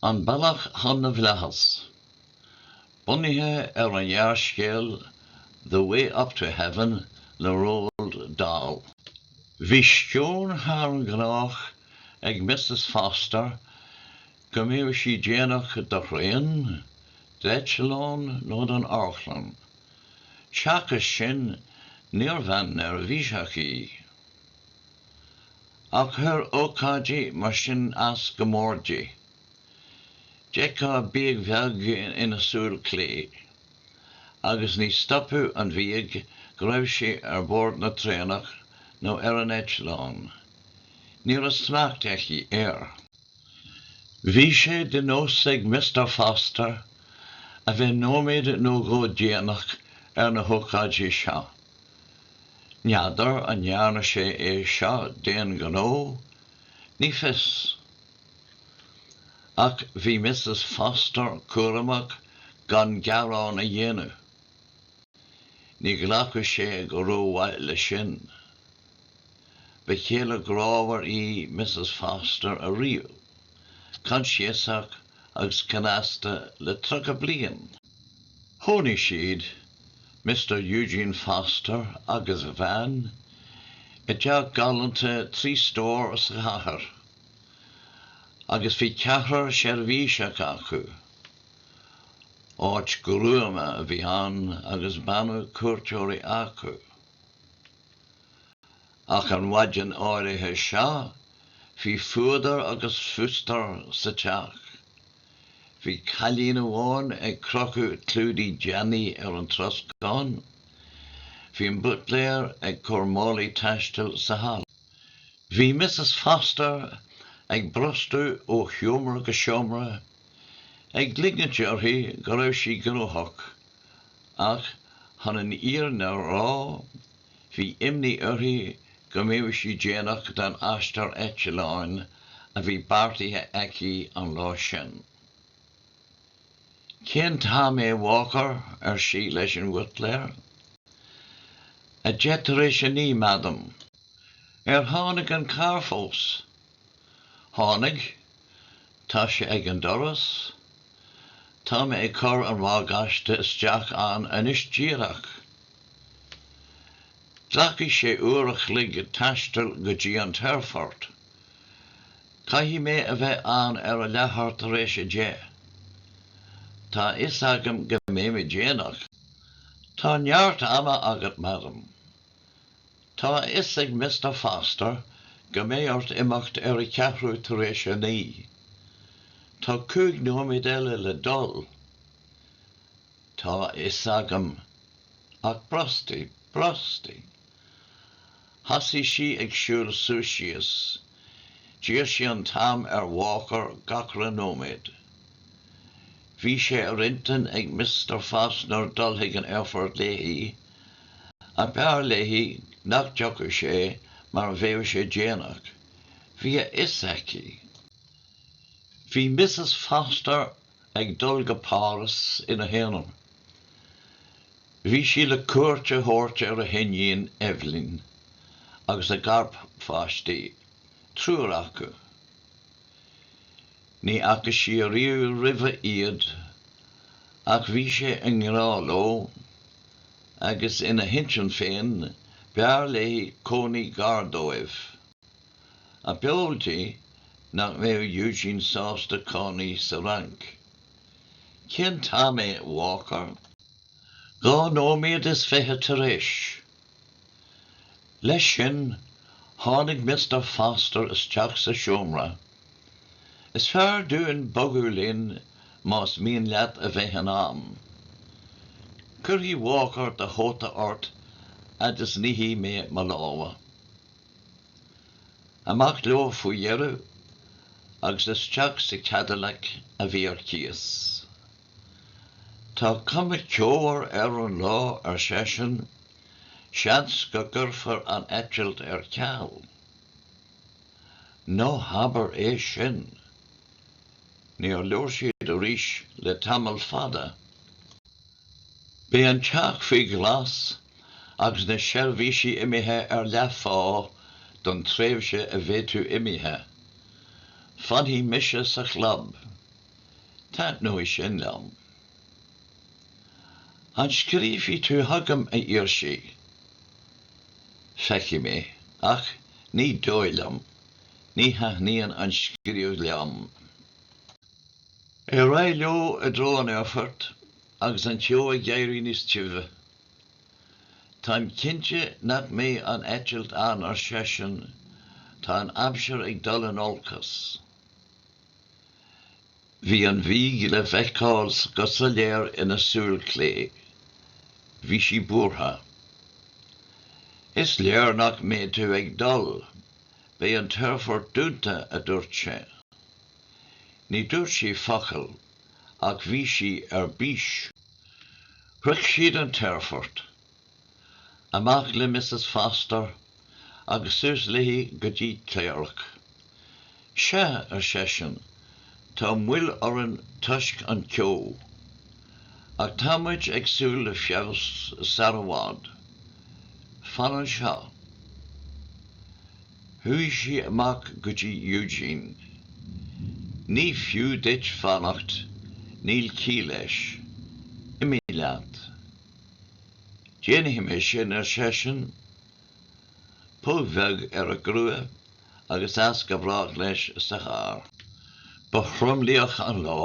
An Bealach chun na bhFlaitheas. Bunaithe ar an ghearrscéal 'The Way Up to Heaven' le Roald Dahl. Bhí sceon thar an ngnách ag Missus Foster go mbeadh sí déanach do thraein, d'eitleán nó don amharclann. Seachas sin, níor bhean neirbhíseach í. Ach chuir ócáidí mar sin as go mór di. D'fheicfeá bíog bheag ina súil clé, agus ní stopfadh an bhíog go raibh sí ar bord na traenach nó ar an eitleán. Ní raibh smacht aici air. Bhí sé de nós ag Mister Foster a bheith nóiméad nó dhó déanach ar na hócáidí seo, N'fheadar an ndearna sé é seo d'aon ghnó? Ní fios. Ach bhí Missus Foster cúramach gan gearán a dhéanamh. Ní ghlacfadh sé go rómhaith leis sin. Ba chéile grámhar í Missus Foster ariamh, coinsiasach agus cneasta le tríocha bliain. Chónaigh siad, Mister Eugene Foster agus a bhean, i dteach galánta trí stór sa chathair agus bhí ceathrar seirbhíseach acu. Áit gruama a bhí ann agus b'annamh cuairteoirí acu. Ach an mhaidin áirithe seo bhí fuadar agus fustar sa teach. Bhí cailín amháin ag crochadh clúdaigh deannaigh ar an troscán. Bhí an buitléir ag cur málaí taistil sa halla. Bhí Missus Foster ag brostú ó sheomra go seomra, ag ligint uirthi go raibh sí gnóthach. Ach chun an fhírinne a rá, bhí imní uirthi go mbeadh sí déanach don aistear eitleáin a bhí beartaithe aici an lá sin. 'Cén t-am é, Walker? ar sí leis an bhuitléir. 'A deich tar éis a naoi, Madam. 'Ar tháinig an carr fós? Tháinig. Tá sé ag an doras. Tá mé ag cur an bhagáiste isteach ann anois díreach. Glacfaidh sé uair an chloig taisteal go dtí an t-aerfort. Caithfidh mé a bheith ann ar a leathuair tar éis a deich. Tá a fhios agam go mbeidh mé déanach. Tá neart ama agat, Madam. Tá a fhios ag Mister Foster go mbeidh ort imeacht ar a ceathrú tar éis a naoi. Tá cúig nóiméad eile le dul, tá a fhios agam, ach brostaigh, brostaigh. Thosaigh sí ag siúl suas síos. D'iarr sí an t-am ar Walker gach re nóiméad. Bhí sé ar intinn ag Mister Foster dul chuig an aerfort léi, Ach b'fhearr léi nach dtiocfadh sé mar bheadh sé déanach, bhí a fhios aici. Bhí Missus Foster ag dul go Páras ina haonar. Bhí sí le cuairt a thabhairt ar a hiníon Eibhlín agus a garpháistí, triúr acu. Ní fhaca sí ariamh roimhe iad, ach bhí sí i ngrá leo, agus ina hintinn féin, b'fhearr léi cónaí gar dóibh. Ach b'eol di nach mbeadh Eugene sásta cónaí sa Fhrainc? Cén t-am é, a Walker? Dhá nóiméad is fiche tar éis Leis sin, tháinig Mister Foster isteach sa seomra. Is fearr dúinn bogadh linn más mian leat a bheith in am. Cuirfidh Walker do chóta ort fhad is nífidh mé mo lámha. Amach leo faoi dheireadh agus isteach sa Cadillac a bhí ar cíos. Tá cuma ceo ar an lá, ar seisean, seans go gcuirfear an eitilt ar ceal? Ná habair é sin! Níor labhair siad arís le tamall fada. Beidh an teach faoi ghlas agus na seirbhísigh imithe ar leathphá don tréimhse a bheidh tú imithe. Fanfaidh mise sa chlub. Taitneoidh sin liom. An scríobfaidh tú chugam, a d'iarr sí? Feicfidh mé, ach ní dóigh liom, ní thaitníonn an scríobh liom. Ar aghaidh leo i dtreo an aerfoirt agus an ceo ag éirí níos tibhe. Táim cinnte nach mbeidh an eitilt ann, ar seisean, tá an aimsir ag dul in olcas. Bhí an bhíog le feiceáil go soiléir ina súil chlé. Bhí sí buartha. 'Is léir nach mbeidh tú ag dul. Beidh an t-aerfort dúnta, a dúirt sé. Ní dúirt sí focal, ach bhí sí ar bís. Shroich siad an t-aerfort. Amach le Missus Foster agus suas léi go dtí cléireach. Sea, ar seisean, tá moill orainn toisc an ceo, ach tá muid ag súil le feabhas sar i bhfad. Fan anseo. Chuaigh sí amach go dtí Eugene. Ní fiú duit fanacht, níl ciall leis. Imigh leat. Déanfaidh mé sin, ar seisean, póg bheag ar a grua agus as go brách leis sa charr. Ba thromluíoch an lá.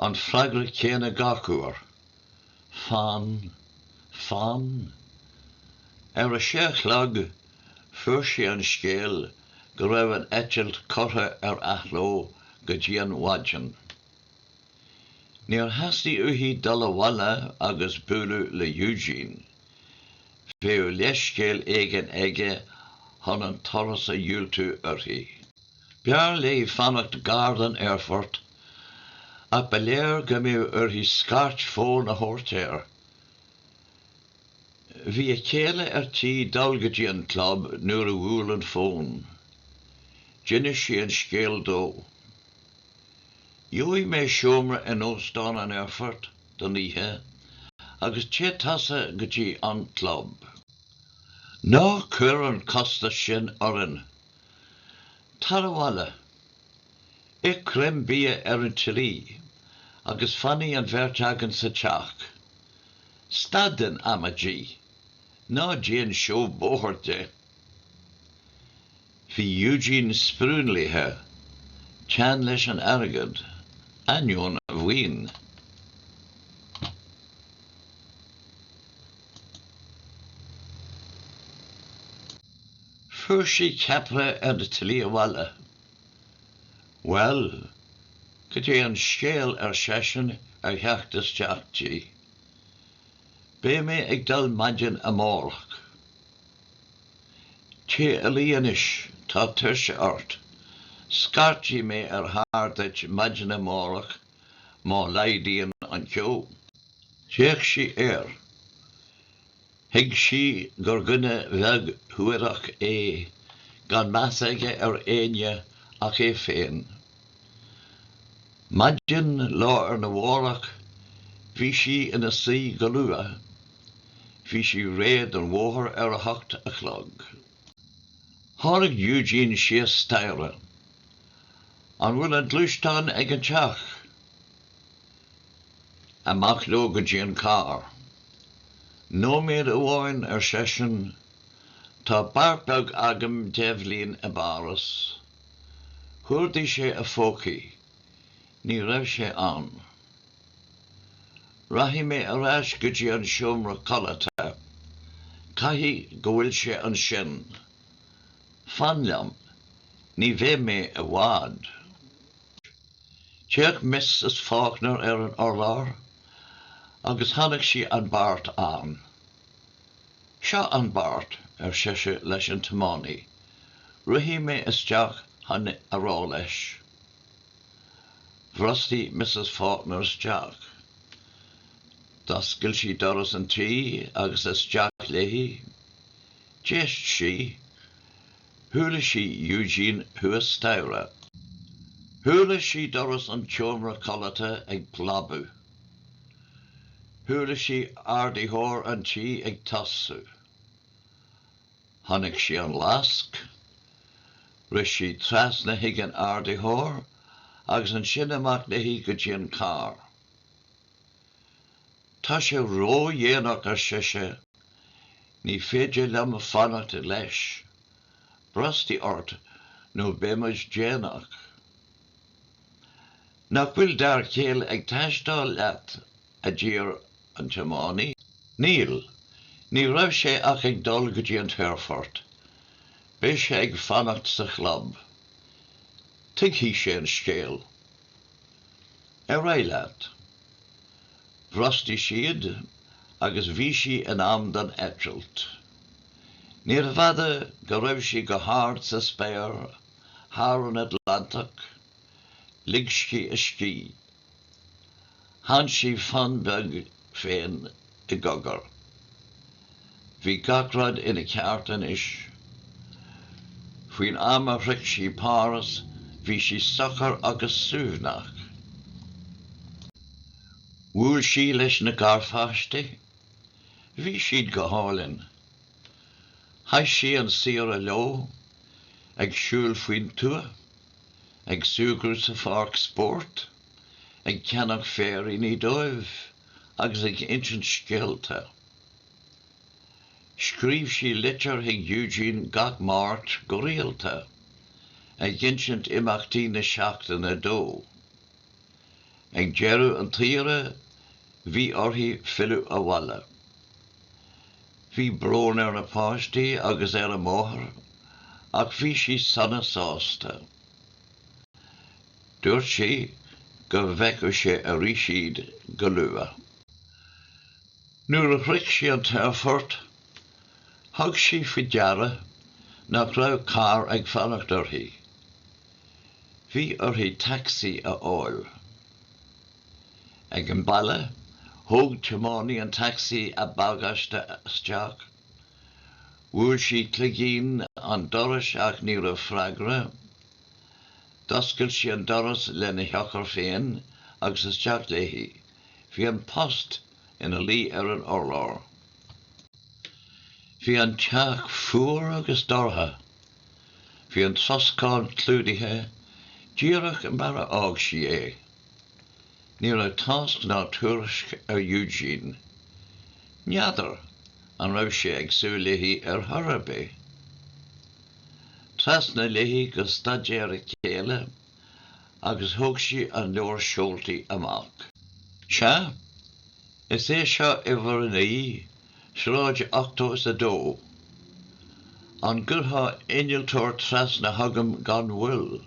An freagra céanna gach uair. Fan. Fan. Ar a sé a chlog fuair sí an scéal go raibh an eitilt curtha ar athló go dtí an mhaidin. Níor theastaigh uaithi dul abhaile agus bualadh le Eugene. Bheadh leithscéal éigin aige chun an turas a dhiúltú uirthi. B'fhearr léi fanacht gar don aerfort, ach ba léir go mbeadh uirthi scairt fóin a thabhairt air. Bhí a céile ar tí dul go dtí an club nuair a bhuail an fón. D'inis sí an scéal dó. Gheobhaidh mé seomra in Óstán an Aerfoirt don oíche agus téigh tusa go dtí an club. Ná cuir an costas sin orainn! Tar abhaile, ith greim bia ar an tslí agus fanfaidh an bheirt againn sa teach. Stad den amaidí! Ná déan seó bóthair de! Bhí Eugene spriúnlaithe, teann leis an airgead, ainneoin a mhaoin. Fuair sí ceapaire ar an tslí abhaile. Bhuel, cad é an scéal, ar seisean ar theacht isteach di. Beidh mé ag dul maidin amárach. Téigh a luí anois, tá tuirse ort. Scairtfidh mé ar charr duit maidin amárach má laghdaíonn an ceo. D'fhéach sí air. Thuig sí gur dhuine beag suarach é, gan meas aige ar éinne ach é féin. Maidin lá arna mhárach bhí sí ina suí go luath. Bhí sí réidh don bhóthar ar a hocht a chlog. Tháinig Eugene síos staighre. An bhfuil an gluaisteán ag an teach? Amach leo go dtí an carr. Nóiméad amháin, ar seisean. Tá beart beag agam d'Eibhlín i bPáras. Chuardaigh sé a phócaí. Ní raibh sé ann. Rachaidh mé ar ais go dtí an seomra codlata. Caithfidh go bhfuil sé ansin. Fan liom. Ní bheidh mé i bhfad. D'fhéach Missus Faulkner ar an urlár agus chonaic sí an beart ann. Seo an beart, ar sise leis an tiománaí, rithfidh mé isteach chun é a rá leis. Bhrostaigh Missus Faulkner isteach. D'oscail sí doras an tí agus isteach léi. D'éist sí. Chuala sí Eugene thuas staighre. Chuala sí doras an tseomra codlata ag plabadh. Chuala sí ardaitheoir an tí ag tosú. Chonaic sí an lasc. Rith sí trasna chuig an ardaitheoir agus ansin amach léi go dtí an carr. Tá sé ródhéanach, ar sise. Ní féidir liom fanacht leis. Brostaigh ort nó beidh muid déanach. Nach bhfuil d'fhear céile ag taisteáil leat? a d'fhiafraigh an tiománaí. Níl. Ní raibh sé ach ag dul go dtí an t-aerfort. Beidh sé ag fanacht sa chlub. Tuigfidh sé an scéal. Ar aghaidh leat. Bhrostaigh siad agus bhí sí in am don eitilt. Níorbh fhada go raibh sí go hard sa spéir thar an Atlantach, lig sí a scíth. Chan sí fonn beag di féin i gcogar. Bhí gach rud ina cheart anois. Faoin am a shroich sí Páras bhí sí socair agus suaimhneach. Bhuail sí leis na garpháistí. Bhí siad go hálainn. Chaith sí an saoire leo, ag siúl faoin tuath, ag súgradh sa pháirc spóirt, ag ceannach féiríní dóibh agus ag insint scéalta. Scríobh sí litir chuig Eugene gach Máirt go rialta, ag insint imeachtaí na seachtaine dó. Ag deireadh an tsaoire, bhí uirthi filleadh abhaile. Bhí brón ar na páistí agus ar a máthair ach bhí sí sona sásta. Dúirt sí go bhfeicfeadh sé arís iad go luath. Nuair a shroich sí an t-aerfort, thug sí faoi deara nach raibh carr ag fanacht uirthi. Bhí uirthi taxi a fháil. Ag an mbaile, thóg tiománaí an taxi a bagáiste isteach. Bhuail sí cloigín an dorais ach ní raibh freagra. D'oscail sí an doras lena heochair féin agus isteach léi. Bhí an post ina luí ar an urlár. Bhí an teach fuar agus dorcha. Bhí an troscán clúdaithe, díreach mar a fhág sí é. Ní raibh tásc ná tuairisc ar Eugene. N'fheadar an raibh sé ag súil léi ar chor ar bith? Trasna léi go staidéar a chéile agus thóg sí an leabhar seoltaí amach. 'Sea, is é seo uimhir a naoi, Sráid 82. An gcuirfeá innealtóir trasna chugam gan mhoill?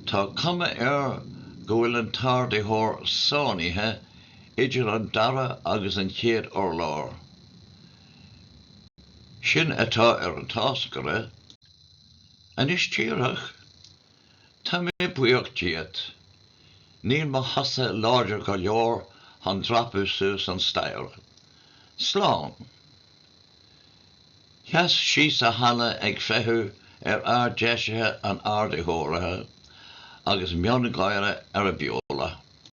Tá cuma air go bhfuil an t-ardaitheoir sáinnithe idir an dara agus an chéad urlár. Sin atá ar an táscaire. Anois díreach, Tá mé buíoch díot. Níl mo chosa láidir go leor chun dreapadh suas an staighre. Slán. Sheas sí sa halla ag feitheamh ar fhear deisithe an ardaitheora agus miongháire ar a beola.